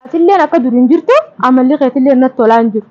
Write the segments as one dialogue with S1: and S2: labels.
S1: Atilleen akka dur hin jirtu amalli keetilleen natti tolaa hin jiru.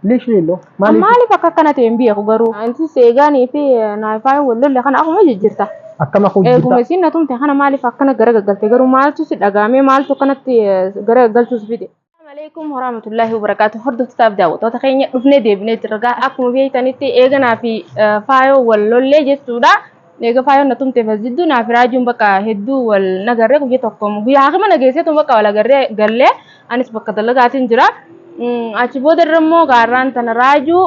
S1: Literally loo An
S2: maaliif maaliif akka akkana
S1: ta'e hin beeku garuu. Anti seegaanii fi naayifaayin wal lolle kana akkuma jijjirta. akkam akka Eeguma hojjirta
S2: isiin na tumte kana
S1: maaliif akkana gara gaggalte garuu maaltu si dhagaamee maaltu akkanatti eh, gara gaggalchuu si fide. Assalamualaikum warahmatullahi wabarakatuh. Hordoftotaaf daawwattoota keenya dhufnee deebinee jirra. Akkuma beektanitti eeganaa fi eh, faayoo wal lollee jechuudha. Eega faayoon na tumte masjidduu naa fi raajuun bakka hedduu wal nagarree guyya tokko guyya haakima na geesseetu bakka wal agarree gallee anis bakka dalagaatiin jira. Achi booda irra immoo gaarraan tana raajuu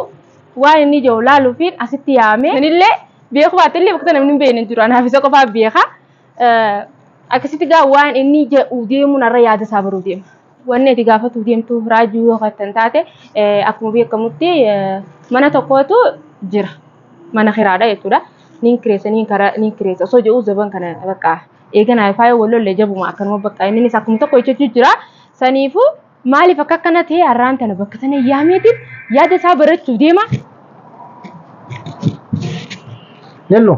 S1: waan inni ijoo laaluufiin asitti yaame. Anillee beeku baate illee bakka namni hin beekne hin jiru anaaf isa qofaa beeka. Akkasitti gaa waan inni jedhu deemuun irra yaada isaa baruu deema. Wanni ati gaafatuuf deemtu raajuu yoo kan taate akkuma beekamutti mana tokkootu jira. Mana kiraadha jechuudha. Niin kireessa niin kara niin kireessa osoo jedhu zaban kana bakka eeganaa faayoo wal lollee jabuma akkanuma bakka innis akkuma tokko jechuu jira. Saniifuu maaliif akka akkana ta'e har'aan tana bakka tana yaameetiin yaada isaa barachuuf deema.
S2: Yello.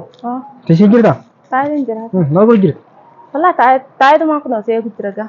S2: Tishii jirta? Taa'een jira.
S1: Maal godhu jirta?
S2: Walaa
S1: taa'eetumaan kun osoo eegu jira gaa.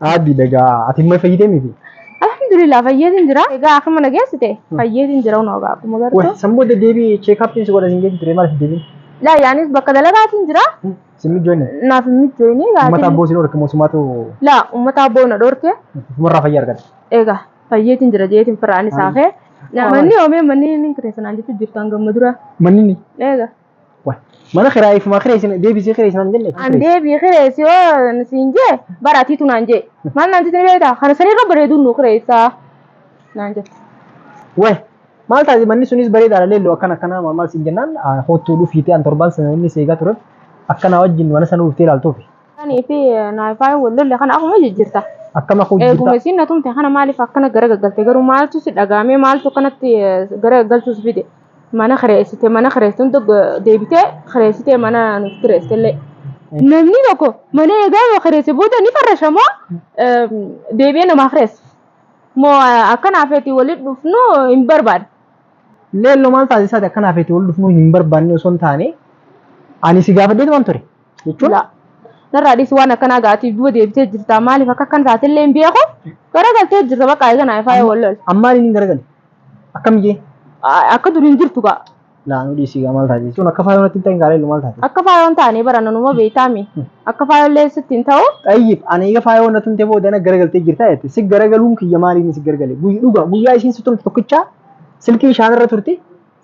S1: Aaddi dagaa ati
S2: immoo fayyitee miti. Alhamdulillah
S1: fayyeetiin jira. Egaa akkuma na geessite fayyeetiin jira unoo egaa akkuma Wai gartu. san booda deebii cheekaappiin
S2: si godha sin geessi ture maaliif deebiin? Laa yaanis bakka
S1: dalagaatiin jira. Sin mijoonne.
S2: Naaf hin mijoone
S1: Uummata gaatiin. abboo sin horke
S2: moosumaatu Laa uummata abboo
S1: na dhorke. ufumarraa fayyaa argata.
S2: Egaa fayyeetiin
S1: jira jeetiin firaan isaa kee. Manni oomee manni inni kireessanaan jechuun jirtu hanga amma dura. Manni Egaa.
S2: Mana kiraa ifumaa kireessina deebisee kireessina hin jenne. An deebii kireessi
S1: yoo siin jee bara atiitu naan jee. Maal naan jettee beektaa? Kana sanirra bareeduun nu kireessaa naan jette. Wayi
S2: maal taate manni sunis bareedaadha leelloo akkana akkanaa maal maal siin jennaan hoottuu dhufiitee an torbaan sana inni seegaa tureef akkanaa wajjin mana sana dhuftee ilaaltuufi. Kanii fi
S1: naayifaa wal lolle kana akkuma jijjiirta. Akkama koo Eeguma jijjiirta.
S2: isiin na tumte kana
S1: maaliif akkana gara gaggalte garuu maaltu si dhagaamee maaltu akkanatti gara gaggalchuus fide. mana kireessite mana kireessuun tokko deebitee kireessitee mana nuuf kireessite illee namni tokko mana eegaa yoo kireesse booda ni farrasha moo deebi'ee namaaf kireessa moo akkanaaf eti waliin dhufnu hin barbaada. Leelloo
S2: maal taasisaati akkanaaf eti wal dhufnu hin barbaanne osoo hin taane ani si gaafadheetu waan ture jechuun Laa.
S1: Narraa dhiisi waan akkanaa gaatiif duuba deebitee jirta maaliif akka akkan taate illee hin beeku garagaltee jirta bakka eeganaa ifaa yoo wal lol. ammaan inni hin garagalle.
S2: Akkam jee? A- Akka durii hin
S1: jirtu gaa. Laa nu dhiisii gaa
S2: maal taate jechuun akka faayoo natti hin ta'in gaalee maal taate? Akka faayoo hin taane bara
S1: nanuma beektaami. Akka faayoo illee sitti hin ta'u. Xayyib ani eega faayoo
S2: natti hin ta'e booda na garagaltee jirta jette. Si garagaluun kiyya maaliin si garagale? Guyya dhugaa guyyaa isiin si turte tokkichaa silkii ishaan irra turte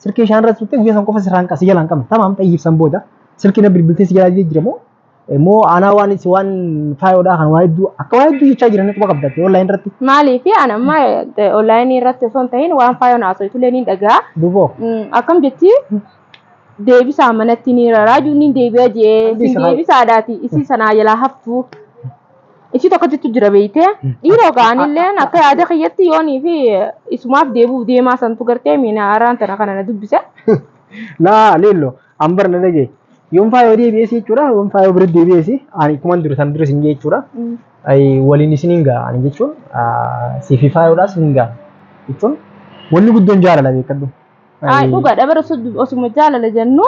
S2: silkii ishaan irra turte guyyaa san qofa sirraan qasi jalaan qabne. Tamaam xayyib san booda silkii na bilbiltee si jalaa jijjiiramoo Immoo aanaa waan itti waan faayoodhaa kan waa hedduu akka waa hedduu jechaa jiran quba qabdatti online irratti. Maaliif an amma
S1: onlaayinii irratti osoo hin ta'in waan faayoon haasoftulee ni dhagaa. Duboo.
S2: Akkam jetti
S1: deebisaa manatti ni raraaju ni deebi'a jee Deebisa sin haa- deebisaadhaati isii sanaa jalaa haftu. Isii tokkottitu jira beeytee dhiiroo ga'anillee akka yaada kiyyatti yoonii fi isumaaf deebi'uuf deemaa santu gartee miina araan tana kana na dubbise. Laa
S2: leello. An barna dhagee. Yoon faayoo deebi'ees jechuudha. Yoon faayoo bira deebi'ees ani kuman dura san dura isin jee jechuudha. Ay, Waliin isin hin ga'a ani jechuun ah, siif fi faayoodhaas hin ga'a jechuun wanni guddoon jaalala beekadhu. Ay, Ay, dhugaadha
S1: bara osoo- osuma jaalala jennu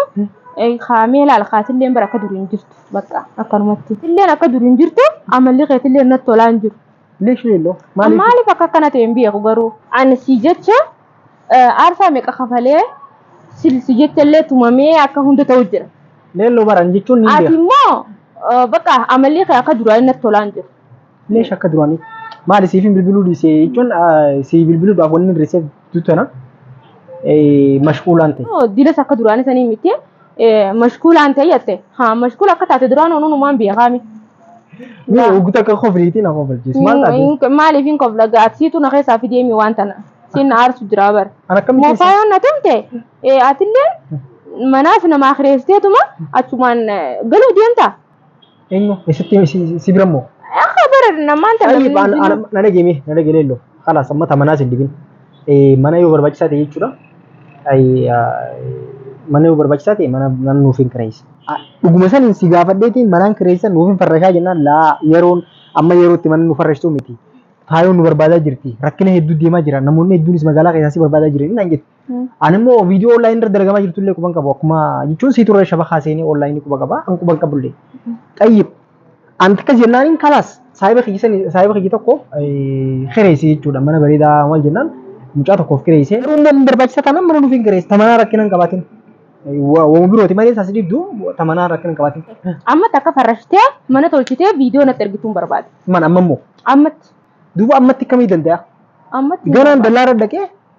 S1: eh, kaamee laal kaatilleen bara akka durii hin jirtu bakka akkanumatti. Illeen akka durii hin jirtu amalli keetillee natti tolaa hin jiru. Leesh leelloo
S2: maaliif? Maaliif akka akkana
S1: ta'e hin beeku garuu. Ani si jecha aarsaa meeqa kafalee si jechallee tumamee akka hunda ta'u jira. Leelloo baran jechuun
S2: ni beeku. Ati immoo bakka
S1: amalli kee akka duraanii natti tolaan jiru. Leesh akka duraanii
S2: maali siifin bilbiluu dhiisee jechuun si bilbiluudhaaf wanni hir'iseef Jidduu tana eh, mashquulaan ta'e. Yoo dilas akka duraanii sanii
S1: miti eh, mashkuulaan ta'e jette haa mashkuul akka taate duraan onuun umaan biyya kaami. Mee
S2: oguu takka kofliitii na kofalchiis. Maal taate? Maaliif hin kofla
S1: gaadsiitu na keessaa fideemi waan tana siin na aarsu jira bara. An akkamitti Moofaa keessaa-
S2: yoo na
S1: tumte eh, atillee manaaf namaa kireessiteetuma achumaan eh, galuu deemta. Eenyu?
S2: Eessatti himi? Si- Si bira immoo? Akka bara namaan
S1: tana Qalii baan ana na dhageemee
S2: na dhagee leelloo. Kalaas amma tamanaa sin dibin. Eh, Mana yoo barbaachisaa ta'e jechuudha. Ay, ah, Mana yoo barbaachisaa ta'e mana mana nuuf hin kireessi. Ah, Dhuguma saniin si gaafadheetiin manaan kireessan nuuf hin farrashaa jennaan laa yeroon amma yerootti mana nu farrashtuu miti. Faayoon nu barbaadaa jirti. Rakkina hedduu deemaa jira. Namoonni hedduunis magaalaa keessaa si barbaadaa jiran naan jette. Ani immoo viidiyoo onlaayinii irra dalagamaa jirtu illee quban qabu akkuma jechuun sii turre shabakaa seenee onlaayinii quba qaba an quban qabu illee. Xayyib anti akkas jennaan hin kalaas saayiba kiyya sani saayiba kiyya tokko kireessee jechuudha mana bareedaa maal jennaan mucaa tokkoof kireessee. Garuu immoo hin barbaachisa taanaan mana nuuf hin kireessi tamanaa rakkina hin qabaatin. Waan birooti malee isaas dibdu tamanaa rakkina hin qabaatin. Amma takka
S1: farrashtee mana tolchitee viidiyoo natti ergituun barbaade. Man amma immoo
S2: Ammatti.
S1: duuba ammatti
S2: akkamii danda'a? Ammatti. Ganaan
S1: dallaarra dhaqee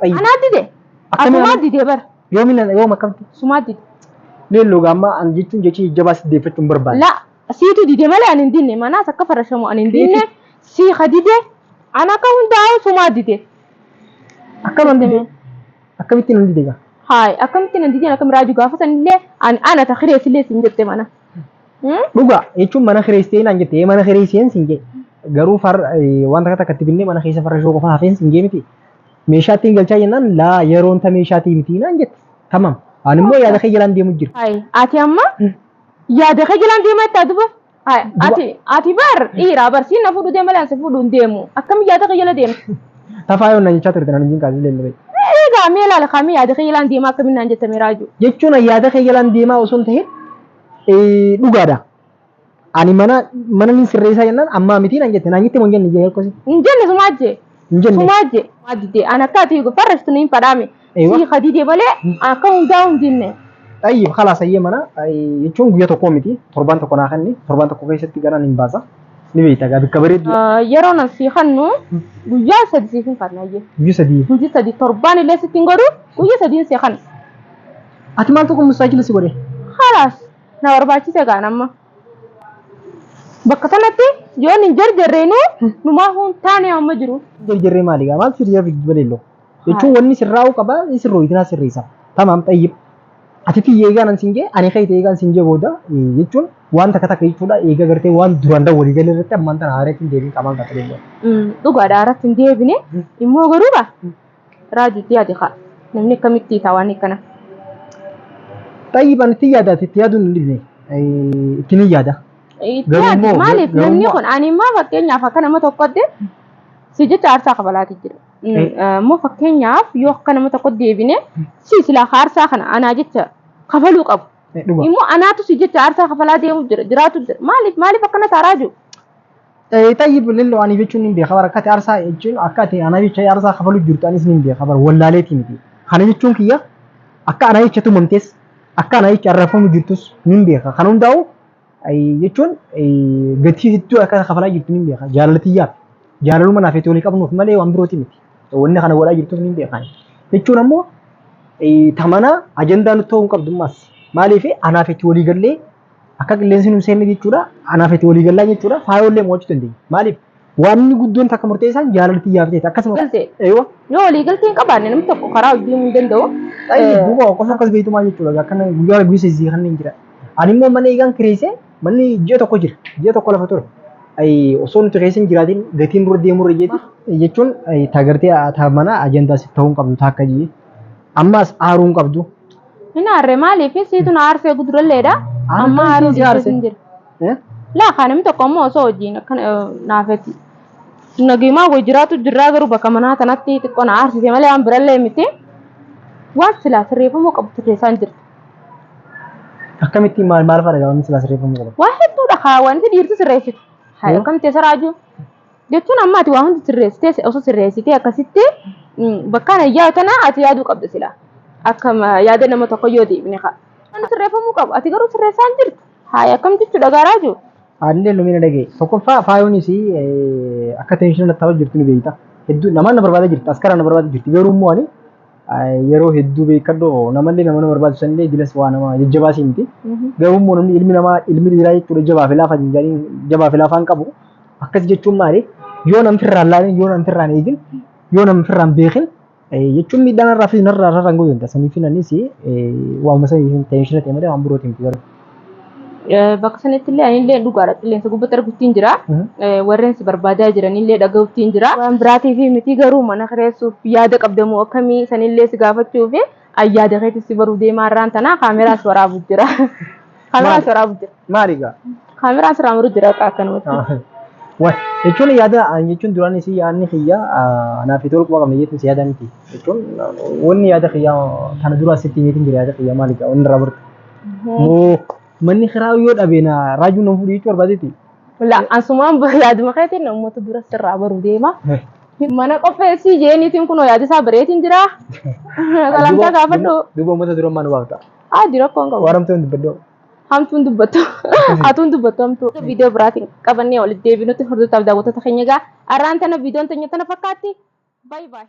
S2: Xayyi. Anaa dide.
S1: Akkamiin Asumaa anaa- dide bar. Yoomi na yoom akkamtu?
S2: Sumaa dide.
S1: Leelloo gaammaa
S2: an jechuun jechi jajjabaa si deeffachuun barbaada. La siitu dide
S1: malee ani hin dinne manaas akka farashamu ani hin dinne sii ka dide an akka hundaa'u sumaa dide. Akkam an dide?
S2: Akkamitti nan dide gaa? Haay akkamitti nan
S1: dideen akka miraaju gaafa sanillee an ana ta kireessillee siin jette mana. Hmm? Dhugaa
S2: jechuun mana kireessitee naan jette mana kireesseen siin jee garuu far wanta akka takkatti binnee mana keessa farrashoo qofa hafeen siin jee miti Meeshaattiin galchaa jennaan laa yeroon ta meeshaatii miti naan jette. Tamam. Ani immoo yaada kee jalaan deemu jira. Ay, ati amma
S1: yaada kee jalaan deemaa itti haa dubbatu. Ay, ati ati bar dhiira bar siin na fuudhu deema laan si fuudhu hin deemu. Akkam yaada kee jala deema. Tafaa yoon naan jechaa
S2: turte naan hin kaasee leellee. Egaa mee laala
S1: kaamee yaada kee jalaan deemaa akkamiin naan jette mee raajuu. Jechuun yaada kee jalaan
S2: deemaa osoo hin ta'in dhugaadha. Ani mana mana nin sirreessaa jennaan ammaa miti nan jette naan jette moo hin jenne jee akkasi. Hin jenne sumaa jee.
S1: Hin jenne. Sumaa jee. Sumaa didee an akka ati farrashtu niin fadhaame. Eewa. Sii ka didee malee akka hundaa hin jenne. Xayyib khalaas
S2: ayyee mana jechuun guyyaa tokkoo miti torbaan tokko naa kenni torbaan tokko keessatti ganaan hin baasa ni beekta gaa bikka bareedduu Yeroo nan sii
S1: kannu guyyaa sadi siif hin kanna ayyee. guyyaa sadii. Hojii sadi
S2: torbaan illee
S1: sitti hin godhu guyyaa sadiin sii kanna. Ati
S2: maal tokko mustaajila si godhe? Khalaas.
S1: Na barbaachise kaan amma. Bakka sanatti yoon hin jarjarreenuu numaa huun taanee amma jiru. Jarjarree maali gaa maaltu
S2: siyaa fiddu baleello. Jechuun wanni sirraa'uu qaba sirroo itinaa sirreessa. Tamaam xayyib. Ati tiyya eegaan an siin jee ani kee ta'e eegaan siin jee booda jechuun waan takka takka jechuudha eegaa gartee waan duraan dawwalii galee irratti ammaan tana haareetiin deebiin qamaan qaxaleello. Dhugaadha irratti hin
S1: deebine immoo garuu gaa Raaju itti yaadi kaa. Namni akkamitti hiikaa waan akkana.
S2: Xayyiban itti yaadaati itti yaaduun hin dhibne ittiin hin yaada. Itti Garuu yaadi immoo- maaliif
S1: garuu namni immoo- kun ani immoo fakkeenyaaf akka nama tokkotti si jecha aarsaa kafalaati jira. Mm, Eh. eh, Immoo fakkeenyaaf yoo akka nama tokkotti deebine si silaa aarsaa kana anaa jecha kafaluu qabu. Dhuga. Immoo anaatu si jecha aarsaa kafalaa deemu jira jiraatu jira maaliif maaliif akkana taaraa jiru. Tayyib
S2: lilloo ani jechuun ni beeka bara akka ati arsaa jechuun akka ati ana jecha arsaa kafalu jirtu anis ni beeka bara wallaaleetii miti. Kana jechuun kiyya akka ana jecha tumamtes akka ana jecha arrafamu jirtus ni beeka. Kan hundaa'u jechuun gatii hedduu akka kafalaa jirtu ni beeka jaalaltiyyaaf. Jaalaluma naaf itti walii qabnuuf malee waan birooti miti. Wanni kana godhaa jirtuuf ni beekan. Jechuun ammoo tamana ajandaa nutti ta'uu hin qabdu ammas. Maaliif anaaf itti walii gallee Akka qilleensi nu seenne jechuudha. Anaaf itti walii gallaa jechuudha. Faayollee mo'achuu dandeenya. Maaliif? Waanni guddoon takka murteessaan jaalala tiyyaaf ta'eeti. Akkasuma Galtee. Eeywa. Yoo walii
S1: galtee hin qabaanne namni tokko karaa hojii hin danda'u. Tayyib duuba qofa
S2: akkas beektu maal jechuudha akka kana guyyaa rabbii sisi kan hin jira. Ani immoo mana eegaan kireesse manni ji'a tokko jira ji'a tokko lafa ture. Ayi osoo nuti keessa hin jiraatin gatiin dura deemuu irra jeeti. Jechuun taagartee taa mana ajandaa siif ta'uu hin qabdu taakka jee. Ammaas aaruu hin qabdu. Hin aarre
S1: maaliif siitu na aarsee guduralleedha. Ana Amma kan aaruu isiin si dhiisee aarse. hin jira. Eh? Laa kaa namni tokko ammoo osoo wajjin akka naafetti. Nagimaa wajjin jiraatu jirraa garuu bakka manaa tanatti xiqqoo na aarsise malee waan birallee miti. Waan silaa sirreeffamuu qabu sirreessaan jirti. Akkamitti
S2: maal maal fa'aadha gaafamni silaa sirreeffamuu qaba? Waa hedduudha kaa wanti
S1: dhiirti sirreessitu. Haa Yoo? akkamitti isa raajuu? Jechuun amma ati waa hundi sirreessitee si- osoo sirreessitee akkasitti mm, bakkaan ayyaa tana ati yaaduu qabda sila. Akka ma- yaada nama tokko yoo deebine kaa. Inni sirreeffamuu qabu. Ati garuu sirreessaa hin jirtu. Haaya akkam jechuudha gaaraa jiru. Haalli lumi na dhaga'e.
S2: Tokkoffaa faayoonis akka teenshinii natti ta'aa jirtu ni beekta. Hedduu namaan na barbaada jirti. Askara na barbaada jirti. Garuu immoo ani yeroo hedduu beekadhu namallee nama nama barbaachisu sanillee jilas waa nama jajjabaa si miti. Garuu immoo namni ilmi namaa ilmi dhiiraa jechuudha jabaa fi laafaa hin jedhanii jabaa fi laafaan qabu. Akkas jechuun maali? Yoo namni firraa hin laalin, yoo namni firraa hin eegin, yoo namni firraa hin beekin jechuun miidhaan irraa fi narraa irraa hin goyoon ta'a. Saniif anis waamuma saniif tenshina ta'e malee waan birootiin miti garuu. Bakka
S1: sanatti illee ani illee dhugaadha qilleensa gubbatti arguttiin jira. Warreen si barbaadaa jiran illee dhaga'uttiin jira. Waan biraatiif miti garuu mana kireessuuf yaada qabdamoo akkamii san illee si gaafachuuf an yaada keetis si baruu deemaa irraan tanaa kaameraas waraabu jira. Kaameraas waraabu jira. Maali gaa?
S2: Kaameraan sirraa muru
S1: jira akka akkanumatti. Waan jechuun
S2: yaada an jechuun duraan isii yaadni kiyya naaf itti walqaba qabna jechuun si yaada miti. Jechuun wanni yaada kiyya kana dura asitti miitiin jira yaada kiyya maali gaa wanni irraa bartu. Moo manni kiraa yoo dhabe na raajuu nan fudhu jechuu barbaadeeti. La asumaan
S1: yaaduma keetiin uummata dura sirraa baru deema. Mana qopheessii jeeniitiin kunoo yaadisaa bareetiin jira. Salamtaa gaafadhu. Duuba uummata dura maal
S2: waamta? Haadi rakkoon qabu. Waan
S1: hamtuu hin dubbadhu.
S2: Hamtuun dubbattu.
S1: Atuun dubbattu hamtuu. Viidiyoo biraatiin qabannee walitti deebinutti hordoftaaf daawwattoota keenya egaa arraan tana viidiyoon teenya tana fakkaatti. Baay'ee baay'ee.